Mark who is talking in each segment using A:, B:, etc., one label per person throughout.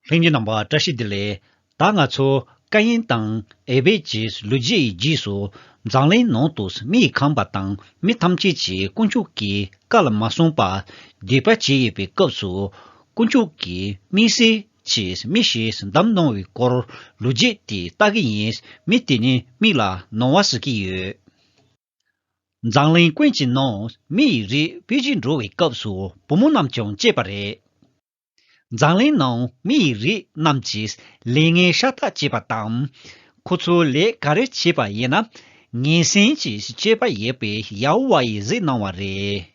A: ལྷུན་གྱི་རྣམ་པ་བཀྲ་ཤིས་བདེ་ལེགས། ད་ང་ཚོ་ཀ་ཡན་དང་ཨེ་བེ་ཅེས་ལུས་རྗེས་ཡི་རྗེས་སུ་འཛམ་གླིང་ནང་དུ་མི་ཡི་ཁམས་པ་དང་མི་ཐམས་ཅད་ཀྱིས་དཀོན་མཆོག་གི་བཀའ་ལ་མ་བསྲུངས་པར་སྡིག་པ་བྱས་ཡོད་པའི་སྐབས་སུ། དཀོན་མཆོག་གིས་མི་སེར་གྱིས་མི་ཞིག་འདམ་གནང་བའི་སྐོར་ལུས་རྗེས་དེ་ལྟ་གི་ཡིན་མི་དེ་ནི་མིག་ལ་ནོར་བ་ཟེར་གྱི་ཡོད། འཛམ་གླིང་ཀུན་གྱི་ནང་མི་ཡི་རིགས་དཔེ་གཞི་འགྲོ་བའི་སྐབས་སུ་བུ་མོ་རྣམས་ཀྱང་བཅས་པ་རེད། མཛངས་གླིང་ནང་མི་ཡི་རིགས་རྣམས་ཀྱིས་ལས་ངན་ཤ་སྟག་བྱས་པ་དང། ཁོ་ཚོ་ལས་ག་རེ་བྱས་པ་ཡིན་ན། ངན་སེམས་ཀྱིས་སྤྱོད་པ་ཡོད་པའི་ཡ་ཧོ་ཝཱ་ཡིས་གཟིགས་གནང་བ་རེད།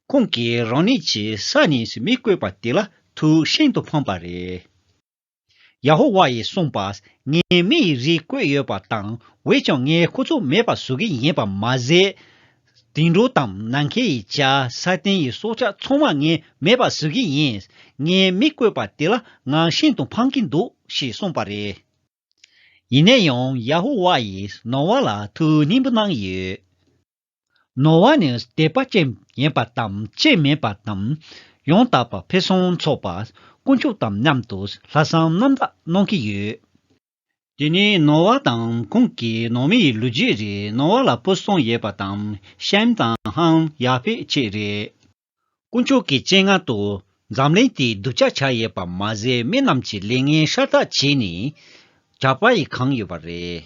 A: ཁོང་གིས་རང་ཉིད་ཀྱི་ས་ནས་མི་བཀོད་པ་དེ་ལ་ཐུགས་ཤིན་ཏུ་ཕངས་པ་རེད། ཡ་ཧོ་ཝཱ་ཡིས་གསུངས་པ། ངས་མི་ཡི་རིགས་བཀོད་ཡོད་པ་དང་བས་ཀྱང་ངས་ཁོ་ཚོ་མེད་པ་བཟོ་གི་ཡིན་པ་མ་ཟད། དུད་འགྲོ་དང་ནམ་མཁའི་ཡི་བྱ་ས་སྟེང་ཡི་སྲོག་ཆགས་ཚང་མ་ངས་མེད་པ་བཟོ་གི་ཡིན། ངས་མི་བཀོད་པ་དེ་ལ་ང་ཤིན་ཏུ་ཕངས་ཀྱི་འདུག་ཞེས་གསུངས་པ་རེད། ཡིན་ན་ཡང་ཡ་ཧོ་ཝཱ་ཡིས་ནོ་ཝཱ་ལ་ཐུགས་སྙིང་པོ་གནང་ཡོད། ནོར་བ་ནི་དད་པ་ཅན་ཡིན་པ་དང་ཅན་མིན་པ་དང། ཡང་དག་པར་ཕུན་སུམ་ཚོགས་པ་དཀོན་མཆོག་དང་མཉམ་དུ་ལྷ་བསང་རྣམ་དག་གནང་གི་ཡོད། དེ་ནས་ནོར་བ་དང་ཁོང་གི་ནང་མི་ཡི་ལུས་རྗེས་རེ་ནོར་བ་ལ་སྤུ་གསུམ་ཡོད་པ་དང་ཤམ་དང་ཧཱུྃ་ཡར་ཕེབས་བཅས་རེད། དཀོན་མཆོག་གི་སྤྱན་སྔ་དུ་འཛམ་གླིང་དེའི་གདུལ་བྱ་བྱ་ཡོད་པ་མ་ཟད་མི་རྣམས་ཀྱི་ལས་ངན་ཤ་སྟག་བྱས་ནས། གྲྭ་པ་ཡིས་གང་ཡོད་པ་རེད།